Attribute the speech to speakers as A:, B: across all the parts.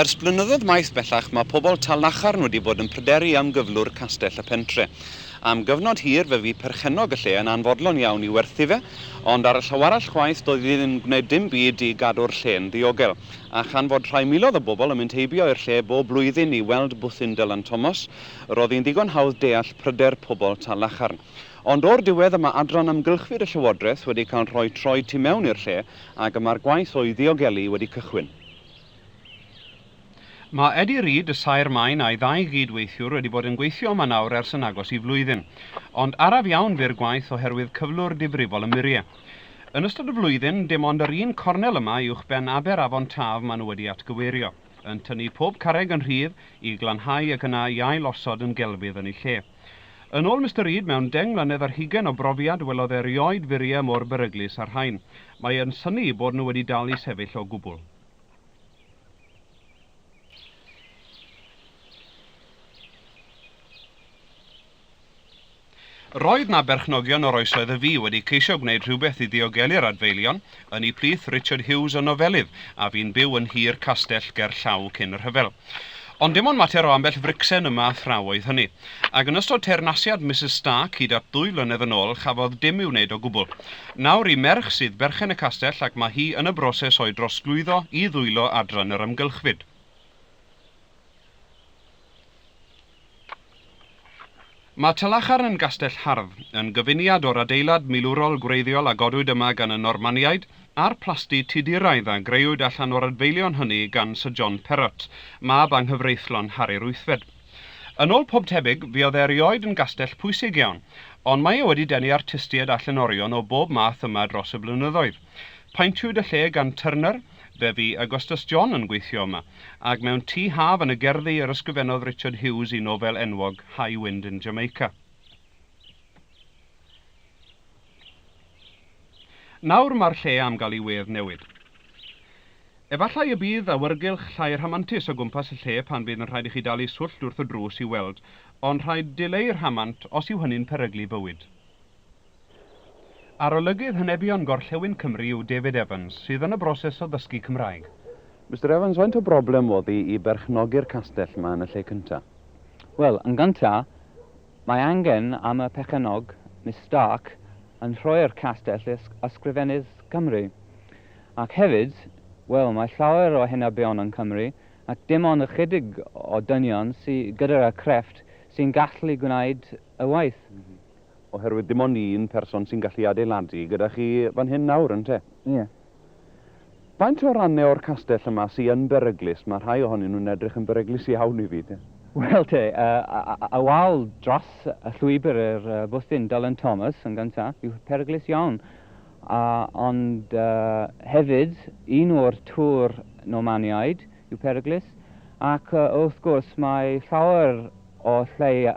A: Ers blynyddoedd maith bellach mae pobl Talnacharn wedi bod yn pryderu am gyflwr castell y pentre. Am gyfnod hir fe fu perchennog y lle yn anfodlon iawn i werthu fe, ond ar y llaw arall chwaith doedd hi ddim yn gwneud dim byd i gadw'r lle'n ddiogel. A chan fod rhai miloedd o bobl yn mynd heibio i'r lle bob blwyddyn i weld bwthyn Dylan Thomas, roedd hi'n ddigon hawdd deall pryder pobl Talnacharn. Ond o'r diwedd y mae adran amgylchfyd y llywodraeth wedi cael rhoi troi tu mewn i'r lle Ac y mae'r gwaith o'i ddiogelu wedi cychwyn.
B: Mae Eddie Reed, y saer maen, a'i ddau gyd-weithiwr wedi bod yn gweithio yma nawr ers yn agos i flwyddyn. Ond araf iawn fu'r gwaith oherwydd cyflwr difrifol y murie. Yn ystod y flwyddyn, dim ond yr un cornel yma uwchben aber afon Taf maen nhw wedi atgyweirio, yn tynnu pob carreg yn rhydd i glanhau ac yna i ail-osod yn gelfydd yn ei lle. Yn ôl Mister Reed, mewn deng mlynedd ar hugain o brofiad, welodd e rioed furiau mor beryglus â'r rhain. Mae yn synnu eu bod nhw wedi dal i sefyll o gwbl. Roedd 'na berchnogion o'r oesoedd y fu wedi ceisio gwneud rhywbeth i ddiogelu'r adfeilion, yn eu plith Richard Hughes o Nofelydd, a fu'n byw yn nhir Castell Gerllaw cyn y rhyfel. Ond dim ond mater o ambell fricsen yma a thraw oedd hynny. Ac yn ystod teyrnasiad Misus Stark hyd at ddwy flynedd yn ôl, chafodd dim i'w wneud o gwbl. Nawr, i merch sydd berchen y castell ac mae hi yn y broses o'i drosglwyddo i ddwylo adran yr amgylchfyd. Mae Talacharn yn gastell hardd, yn gyfuniad o'r adeilad milwrol gwreiddiol a godwyd yma gan y Normaniaid, a'r plasty Tuduraidd a grëwyd allan o'r adfeilion hynny gan Syr John Perrot, mab anghyfreithlon Harri'r Wythfed. Yn ôl pob tebyg, fuodd e erioed yn gastell pwysig iawn, ond mae e wedi denu artistiaid a llenorion o bob math yma dros y blynyddoedd. Paentiwyd y lle gan Turner, Fe fu Augustus John yn gweithio yma, ac mewn tŷ haf yn y gerddi yr ysgrifennodd Richard Hughes i nofel enwog High Wind in Jamaica. Nawr mae'r lle am gael ei wedd newid. Efallai y bydd awyrgylch llai rhamantus o gwmpas y lle pan fydd yn rhaid i chi dalu swllt wrth y drws i'w weld, ond rhaid dileu rhamant os yw hynny'n peryglu bywyd. Arolygydd Henebion Gorllewin Cymru yw David Evans, sydd yn y broses o ddysgu Cymraeg. Mister Evans,
A: faint o broblem oedd hi i berchnogi'r castell 'ma yn y lle cynta? Wel, yn
C: gynta, mae angen am y perchennog, Miss Stark, yn rhoi'r castell i Ysgrifennydd Cymru. Ac hefyd, wel, mae llawer o henebion yn Cymru, ac dim ond ychydig o dynion sy gyda crefft sy'n gallu gwneud y waith. Oherwydd
A: dim ond un person sy'n gallu adeiladu gyda chi fan hyn nawr, ynte? Ie. Faint o rannau o'r castell yma sy yn beryglus? Mae rhai ohonyn nhw'n edrych yn beryglus iawn i fi, te. Wel, te,
C: y wal dros y llwybr i'r bwthyn Dylan Thomas yn gyntaf yw peryglus iawn. Ond hefyd, un o'r tŵr Normaniaid yw peryglus. Ac wrth gwrs, mae llawer o lle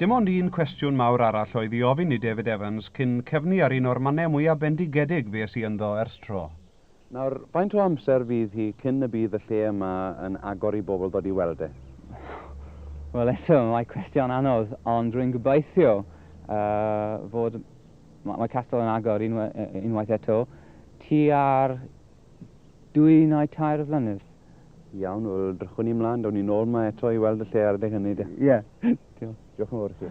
B: Dim ond un cwestiwn mawr arall oedd i ofyn i David Evans cyn cyfni ar un o'r mannau mwyaf bendigedig fues i ynddo ers tro. Nawr, faint
A: o amser fydd hi cyn y bydd y lle yma yn agor i bobl ddod i weld e?
C: Wel, eto, mae cwestiwn anodd, ond rwy'n gobeithio fod Mae Castell yn agor unwaith eto, tua'r dwy neu tair flynedd. Iawn,
A: wel, drychwn ni mlaen, dawn ni nôl yma eto i weld y lle ar
C: adeg
A: hynny, de. Ie. Yeah. Diolch. Diolch yn fawr i chi.